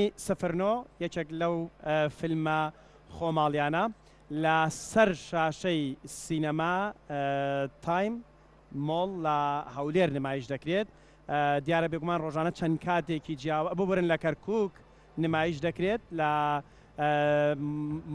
فیلمی سفر نۆ یەکێک لەو فیلمە خۆماڵیانە لە سەر شاشەی سینەما تایم مۆڵ لە هەولێر نمایش دەکرێت دیارە بێگومان ڕۆژانە چەند کاتێکی جیاوە ببورن لە کەرکک نمایش دەکرێت لە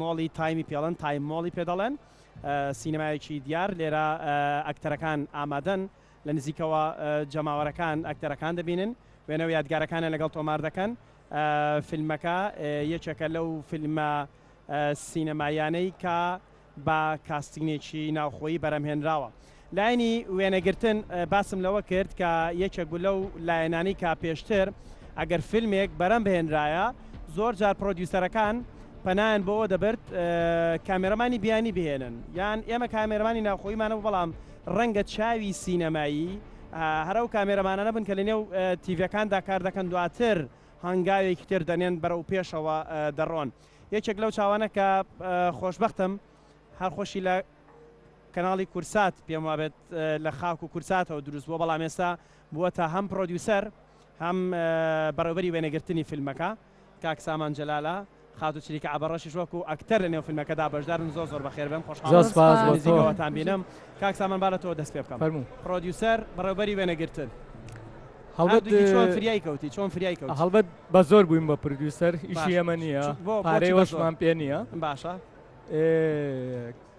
مۆڵی تایمی پێڵەن تایم مۆڵی پێ دەڵێن سینەمایەکی دیار لێرە ئەکتەرەکان ئامادەن لە نزیکەوە جەماوەرەکان ئەکتەرەکان دەبینن، وێنە و یادگارەکانیان لەگەڵ تۆمار دەکەن. فیلمەکە یەکێکە لەو فیلمە سینەماییانەی کە بە کاستینێکی ناوخۆیی بەرەمهێنراوە. لایەنی وێنەگرتن، باسم لەوە کرد کە یەکێک بوو لەو لایەنانەی کە پێشتر ئەگەر فیلمێک بەرەمبهێنرایە، زۆر جار پڕۆدیوسەرەکان پەنایان بۆ ئەوە دەبرد کامێرەمانی بیانی بهێنن یان ئێمە کامێرەمانی ناوخۆییمانە بوو، بەڵام ڕەنگە چاوی سینەمایی هەر ئەو کامێرەمانانە بن کە لە نێو تیڤیەکاندا کار دەکەن دواتر هانگاوێکی تر دەنێن بەرەو پێشەوە دەڕۆن یەکێک لەو چاوانە کە خۆشبەختم هەر خۆشی لە کەناڵی کورسات پێم وابێت لە خاک و کورساتەوە دروست بووە بەڵام ئێستا بووە تا هەم پرۆدیوسەر هەم بەڕێوبەری وێنەگرتنی فیلمەکە کاک سامان جەلالە. خاتوو چریکە عەبەڕەشیش وەکوو ئەکتەر لە نێو فیلمەکەدا بەشدار بن. زۆر زۆر بەخێر بێن. خۆشحاڵم لە نزیکەوەتان بینم. کاک سامان با لە تۆوە دەست پێ بکەم. فەرموو. پڕۆدیوسەر، بەڕێوەبەری وێنەگرتن. هەڵبەت چۆن فریای کەوتی؟ چۆن فریای کەوتی؟ هەڵبەت بە زۆر بووین بە پرۆدیوسەر. ئیشی ئێمە نییە. پارەی وەشمان پێ نییە. باشە.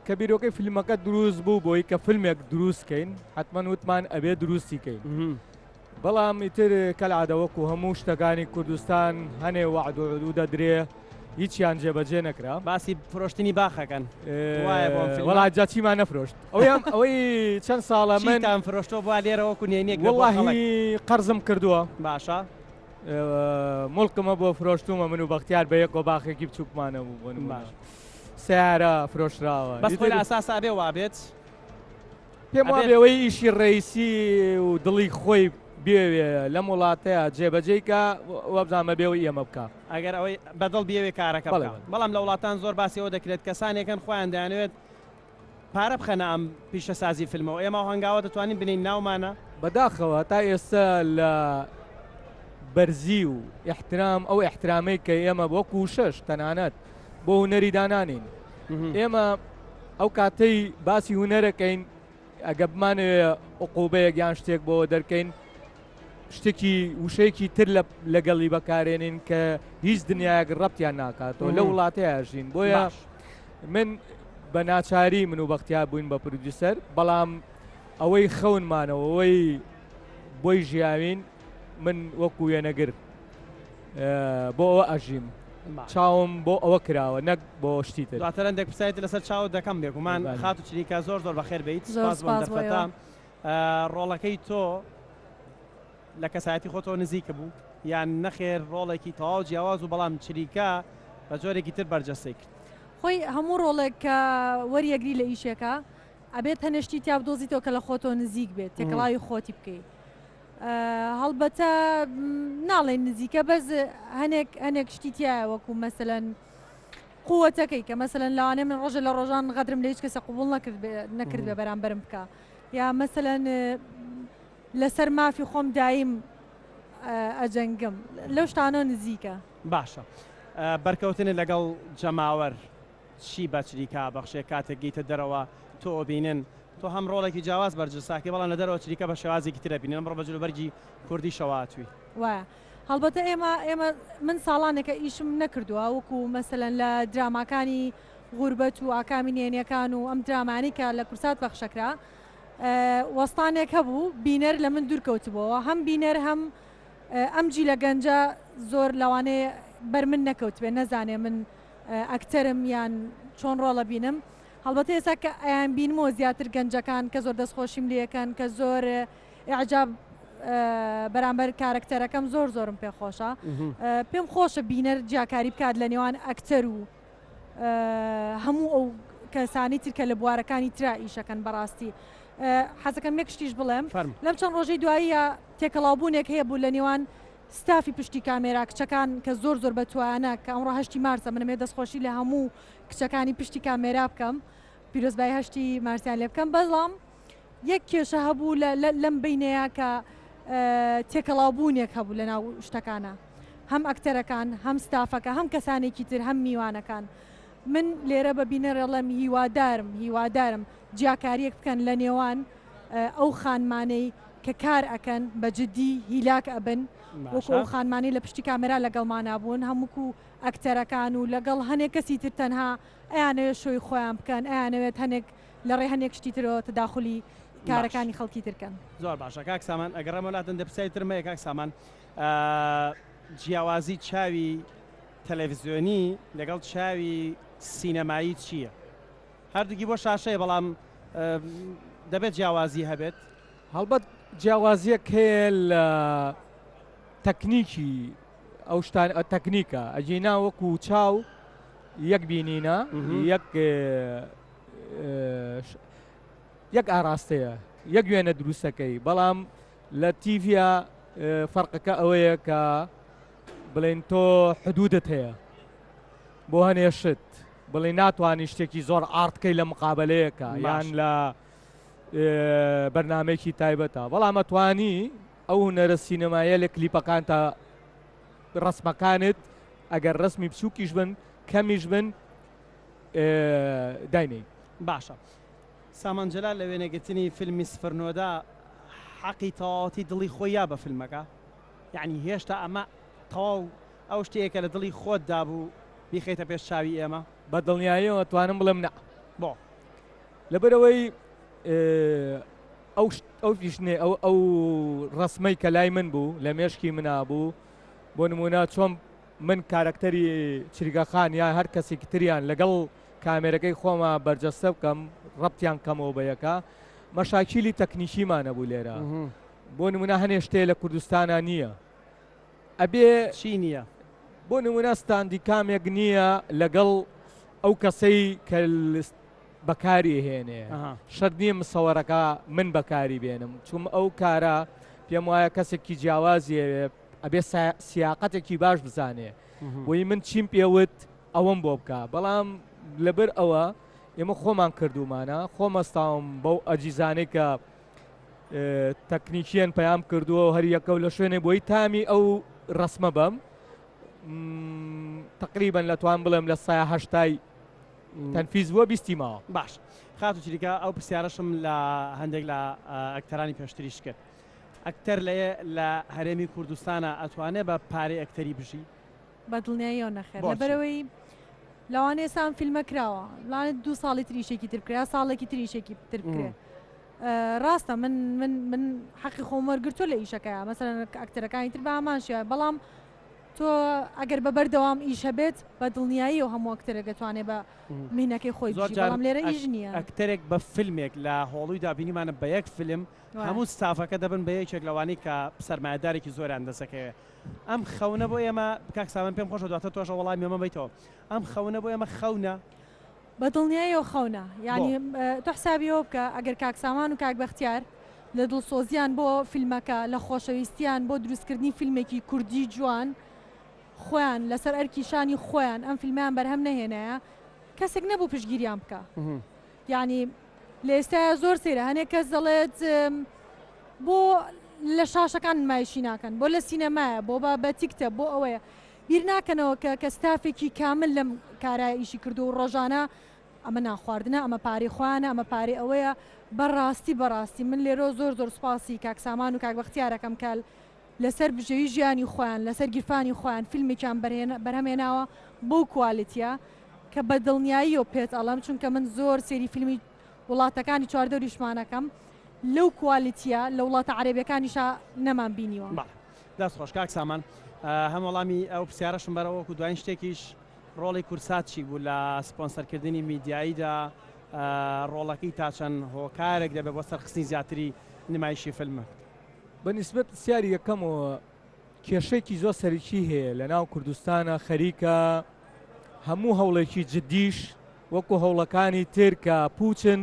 کە بیرۆکەی فیلمەکە دروست بوو بۆی کە فیلمێک دروست کەین حەتمەن وتمان ئەبێ دروستی کەین. بەڵام ئیتر کەلعادە وەکو هەموو شتەکانی کوردستان هەنێ وەعد و عدو دەدرێ هیچیان جێبەجێ نەکرا. باسی فرۆشتنی باخ ئەکەن وایە بۆم فیلمە. وەڵا جا چیمان نەفرۆشت ئەویان ئەوەی چەند ساڵە من. چیتان فرۆشتوە بوا لێرە وەکو نێنیەک لە بۆ خەڵک. وەڵاهی قەرزم کردوە. باشە. موڵکمە بۆ فرۆشتومە من و بەختیار بە یەکەوە باخێکی بچوکمان هەبوو بۆ نمونە. سەیارە فرۆشراوە. بەس خۆی لە ئەساسا ئەبێ وابێت. پێم وابێ ئەوەی ئیشی ڕێیسی و دڵی خۆی بێوێ لەم وڵاتەیە جێبەجێی کا وابزان مەبێ ئەوەی ئێمە بکا. ئەگەر ئەوەی بە دڵ بیەوێ کارەکە بکا. بەڵام لە وڵاتان زۆر باسی ئەوە دەکرێت کەسانێک هەن خۆیان دەیانەوێت پارە بخەنە ئەم پیشەسازی فیلمەوە. ئێمە ئەو هەنگاوە دەتوانین بنێین ناومانە؟ بەداخەوە تا ئێستە لە بەرزی و ئیحترام ئەو ئیحترامەی کە ئێمە وەکوو شەش تەنانەت بۆ هونەری دانانێین ئێمە ئەو کاتەی باسی هونەرەکەین ئەگە بمانەوێ عقوبەیەک یان شتێک بۆ دەرکەین شتێکی وشەیەکی تر لەگەڵی بەکارێنین کە هیچ دنیایەک ڕەتیان ناکاتەوە لە وڵاتەیە ژین بۆیە من بە ناچاری من و بەختیا بووین بە پرودیوسەر بەڵام ئەوەی خەونمانەوەەوەی بۆی ژیاوین من وەکو وێنەگر بۆ ئەوە ئەژیم چاوم بۆ ئەوە کراوە نەک بۆ شتی تر. دواتر هەندێک پرسیارێکی لەسەر چاوت دەکەم بێگومان. خاتوو چریکە زۆر زۆر بەخێر بێیت سوپاس بۆ ئەم دەرفەتە. ڕۆڵەکەی تۆ لە کەسایەتی خۆتەوە نزیک بوو یان نەخێر ڕۆڵێکی تەواو جیاواز و بەڵام چریکە بە جۆرێکی تر بەرجەستەی کرد؟ خۆی هەموو ڕۆڵێک کە وەریەگری لە ئیشێکە ئەبێت هەنێ شتی تیا بدۆزیتەوە کە لە خۆتەوە نزیک بێت تێکەڵاوی خۆتی بکەیت هەڵبەتە ناڵێین نزیکە بەس هەنێک هەنێک شتی تایە وەکو مەسەەن قووەتەکەی کە مەسەن لەوانێ من ڕۆژە لە ڕۆژان غەدرم لە هیچ کەسە قوبول نەکرد نەکرد بە بەرامبرم بکە یا مەسەن لەسەر مافی خۆم دایم ئەجەنگم لەو شتانە نزیکە باشە بەرکەوتنە لەگەڵ جەماوەر چی بەچریکە بەخشێ کاتێک گەیتە دەرەوە تۆ ئەبینن تۆ هەم ڕۆڵێکی جیاواز بەرجت ساکەی بەڵام لە دەرەوە چریکە بە شێوازێکی تر ئەبینن ئەمڕۆ بە جلوبەرگی کوردیشەوە هاتووی. وایە هەڵبەتە ئێمە ئێمە من ساڵانێکە ئیشم نەکردووە وەکو مەسەلەن لە دراماکانی غوربەت و ئاکامی نێنیەکان و ئەم درامانەی کە لە کورسات پەخشەکرا وەستانێک هەبوو بینەر لە من دوورکەوتبووەوە هەم بینەر هەم ئەم جیلە گەنجە زۆر لەوانەیە بەر من نەکەوتبێ نەزانێ من ئەکتەرم یان چۆن ڕۆڵ ئەبینم هەڵبەتە ئێستا کە ئەیان بینمەوە زیاتر گەنجەکان کە زۆر دەستخۆشیم لەکەن کە زۆر عجاب بەرامبەر کارکتەرەکەم زۆر زۆرم پێ خۆشە پێم خۆشە بینەر جیاکاری بکات لە نێوان ئەکتەر و هەموو ئەو کەسانی ترکە لە بوارەکانی تررا ئیشەکەن بەڕاستی حەزەکەم یەک شتیش بڵێم لەم چەند ڕۆژەی دواییە تێکەڵاوبوونێک هەیە بوو لە نێوان ستافی پشتی کامێرا کچەکان کە زۆر زۆر بەتوایانە کە ئەمڕۆ هەشتی مارسە منەمەوێ دەستخۆشی لە هەموو کچەکانی پشتی کامێرا بکەم پیرۆزبایی هەشتی مارسیان لێ بکەم بەڵام یەک کێشە هەبوو لەم بینەیە کە تێکەڵاوبوونێک هەبوو لە ناو شتەکانە هەم ئەکتەرەکان هەم ستافەکە هەم کەسانێکی تر هەم میوانەکان من لێرە بە بینەرەڵەم هیوادارم هیوادارم جیاکاریەک بکەن لە نێوان ئەو خانمانەی کە کار ئەکەن بە جدی هیلاک ئەبن وەکو ئەو خانمانەی لە پشتی کامێرا لەگەڵمانا بوون هەمووکو ئەکتەرەکان و لەگەڵ هەنێ کەسی تر تەنها ئەیانەوێت شۆی خۆیان بکەن ئەیانەوێت هەنێک لە ڕێ هەنێک شتی ترەوە تەداخولی کارەکانی خەڵکی تر کەن. زۆر باشە کاک سامان ئەگەڕێمەوە لاتن دە پرسیاری ترم هەیە کاک سامان جیاوازی چاوی تەلەفزیۆنی لەگەڵ چاوی سینەمایی چییە؟ هەردووکی بۆ شاشەیە بەڵام دەبێت جیاوازی هەبێت؟ هەڵبەت جیاوازیەک هەیە لە تەکنیکی ئەو شتان تەکنیکە ئەجینا وەکو چاو یەک بینینە یەک یەک ئاراستەیە یەک وێنە دروستەکەی بەڵام لە تیڤە فەرقەکە ئەوەیە کە بڵێن تۆ حدودت هەیە بۆ هەنێشت بڵێ ناتوانانی شتێکی زۆر ئارتکەی لە مقابلەیەەکە یان لە بەرنامەیەکی تایبەتە بەڵام ئەتوانی ئەو هونەرە سینەمایە لە کلیپەکان تا ڕسمەکانت ئەگەر ڕسمی بچووکیش بن کەمیش بن داینەی باشە سامانجلال لە وێنەگرتنی فیلمی سفرنۆدا حەقی تەواوەتی دڵی خۆی یا بە فیلمەکە یعنی هێشتا ئەمە تەواو ئەو شتەیە کە لە دڵی خۆت دابوو بیخیتە پێش چاوی ئێمە بە دڵنیاییەوە توانم بڵێم نە بۆ لەبەرئەوەی ئەو فیشنەی، ئەو ڕەسمەی کە لای من بوو، لە مێشکی منا بوو، بۆ نموونە چۆن من کارەکتەری چریکەخان یا هەر کەسێکی تریان لەگەڵ کامێرەکەی خۆما بەرجەستە بکەم، ڕەبتیان بکەمەوە بە یەکا، مەشاکیلی تەکنیکیمان هەبوو لێرە. بۆ نموونە هەنێ شتێ لە کوردستانا نییە. ئەبێ چی نییە؟ بۆ نمونە ستاندی کامێک نییە لەگەڵ ئەو کەسەی کە بەکاری هێنێ شەر نییە مسەوەرەکە من بەکاری بێنم چوم ئەو کارە پێم وایە کەسێکی جیاوازیێ ئەبێ سیاقەتێکی باش بزانێ بۆی من چیم پێوت ئەوەم بۆ بکە بەڵام لەبەر ئەوە ئێمە خۆمان کردومانە خۆمەستاوم بەو ئەجیزانەی کە تەکنیکیەن پەیام کردووە و هەریەکە و لە شوێنێ بۆی تامی ئەو ڕسمە بەم تقریبان لە توان بڵێم لە ساهشتای تەنفیز بووە بیستی ماوە باش خاتو چریکە ئەو پرسیارەشم لە هەندێک لە ئەکتەرانی پێشتریش کرد ئەکتەر لە لە هەرێمی کوردستانە ئەتوانێت بە پارەی ئەکتەری بژی بە دڵنیاییەوە نەخێر بۆچی؟ لەبەرئەوەی لەوانەیە ئێستا ئەم فیلمە کراوە لەوانەیە دوو ساڵی تر ئیشێکی تر بکرێ یا ساڵێکی تر ئیشێکی تر بکرێ ئە، ڕاستە من من من حەقی خۆم وەرگرتووە لە ئیشەکەیان مەسەلەن کە ئەکتەرەکانی تر بە هەمان شێوە بەڵام تۆ ئەگەر بە بەردەوام ئیش هەبێت بە دڵنیاییەوە هەموو ئەکتەرێک دەتوانێت بە مینەکەی خۆی زۆر بژی جار بەڵام لێرە ئەک ئیش نییە. ئەکتەرێک بە فیلمێک لە هۆڵویدا بینیمانە بە یەک فیلم وایە. هەموو ستافەکە دەبن بە یەکێک لەوانەی کە سەرمایەدارێکی زۆریان دەسەکەوێ ئەم خەونە بۆ ئێمە، کاک سامان پێم خۆشە دواتر تۆش وەڵامی ئەمە بەیتەوە، ئەم خەونە بۆ ئێمە خەونە؟ بە دڵنیایەوە خەونە، بۆ؟ یانی تۆ حسابی ئەوە بکە ئەگەر کاک سامان و کاک بەختیار لە دڵسۆزییان بۆ فیلمەکە، لە خۆشەویستییان بۆ دروستکردنی فیلمێکی کوردی جوان خۆیان لەسەر ئەرکی شانی خۆیان ئەم فیلمەیان بەرهەم نەهێنایە، کەسێک نەبوو پشتگیریان بکا. یانی لە ئێستایا زۆر سەیرە هەنێک کەس دەڵێت بۆ لە شاشەکان نمایشی ناکەن بۆ لە سینەمایە بۆ بە بە تیکتە بۆ ئەوەیە بیر ناکەنەوە کە کە ستافێکی کامل لەم کارای ئیشی کردو و ڕۆژانە ئەمە ناخواردنە ئەمە پارەی خۆیانە ئەمە پارەی ئەوەیە بەڕاستی بەڕاستی من لێرۆ زۆر زۆر سوپاسی کاک سامان و کاک بەختیارەکەم کە لەسەر بژێوی ژیانی خۆیان لەسەر گیرفانی خۆیان فیلمێکیان بەرهەم هێناوە بەو کوالێتیە کە بە دڵنیاییەوە پێت ئەڵێم چونکە من زۆر سێری فیلمی وڵاتەکانی چواردەوریشمان ئەکەم لەو کوالێتیە لە وڵاتە عەرەبیەکانیشا نەمان بینیوە. بەڵێ دەست خۆش کاک سامان هەم وەڵامی ئەو پرسیارەشم بەرەوە وەکو دوایین شتێکیش ڕۆڵی کورسات چی بوو لە سپۆنسەر کردنی میدیاییدا ڕۆڵەکەی تا چەند هۆکارێک دەبێت بۆ سەرخستنی زیاتری نمایشی فیلمەکە؟ بە نیسبەت پرسیاری یەکەمەوە کێشەیەکی زۆر سەرکی هەیە لە ناو کوردستانە خەریکە هەموو هەوڵێکی جددیش وەکو هەوڵەکانی تر کە پوچن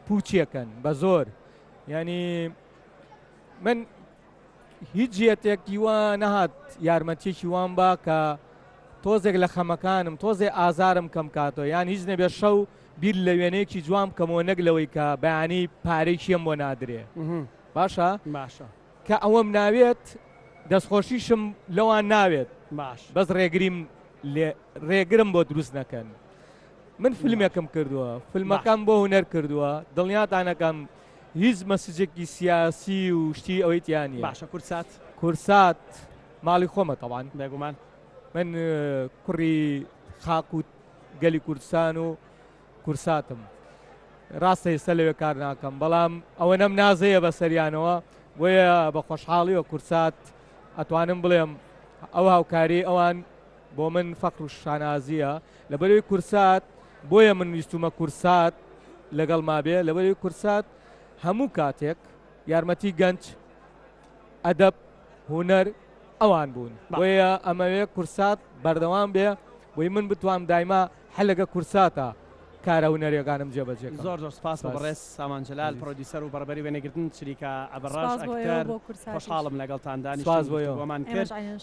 پوچیەکەن بە زۆر ینی من هیچ جێتێکی وە نەهات یارمەتیکی وان با کە تۆزێک لە خەمەکانم تۆزێ ئازارم کەم کاتەوە یان هیچ نەبێ شەو بیر لە وێنەیەکی جوام کەمەوە نەک لەوەی کە بەیانی پارێکیم بۆ نادرێ باشە باشە کە ئەوەم ناوێت دەستخۆشیشم لەوان ناوێت باش بەس ڕێگریم لێ ڕێگرم بۆ دروست نەکەن من فیلمێکم کردووە فیلمەکەم بۆ هوەر کردووە دڵنیاتانەکەم هیچ مەسجێکی سیاسی و شتی ئەوەی تیانی باشە کورسات کورسات ماڵی خۆمە تەوان بێگومان من کوڕی خاکووت گەلی کوردستان و کورساتم راستە ئێستا لەوێ کار ناکەم بەڵام ئەوەنەم نازەیە بە سەریانەوە بۆیە بە خۆشحاڵیەوە کورسات ئەتوانم بڵێم ئەو هاوکاری ئەوان بۆ من فەخر و شانازیە لەبەروی کورسات بۆیە من ویستومە کورسات لەگەڵ مابێ لەبەروی کورسات هەموو کاتێک یارمەتی گەنج ئەدەب هوەر ئەوان بوون بۆیە ئەمەوێ کورسات بەردەوام بێ بۆی من بتوام دایما حلقە کورتساتە کارە هونەریەکانم جێ بەجێ کەم. زۆر زۆر سوپاس بۆ بەڕێز سامان جەلال پرۆدیوسەر و بەڕێبەری وێنەگرتن چریکا ئەبەڕەش ئەکتەر خۆشحاڵم لەگەڵتان دانیشتن گفتوگۆمان کرد.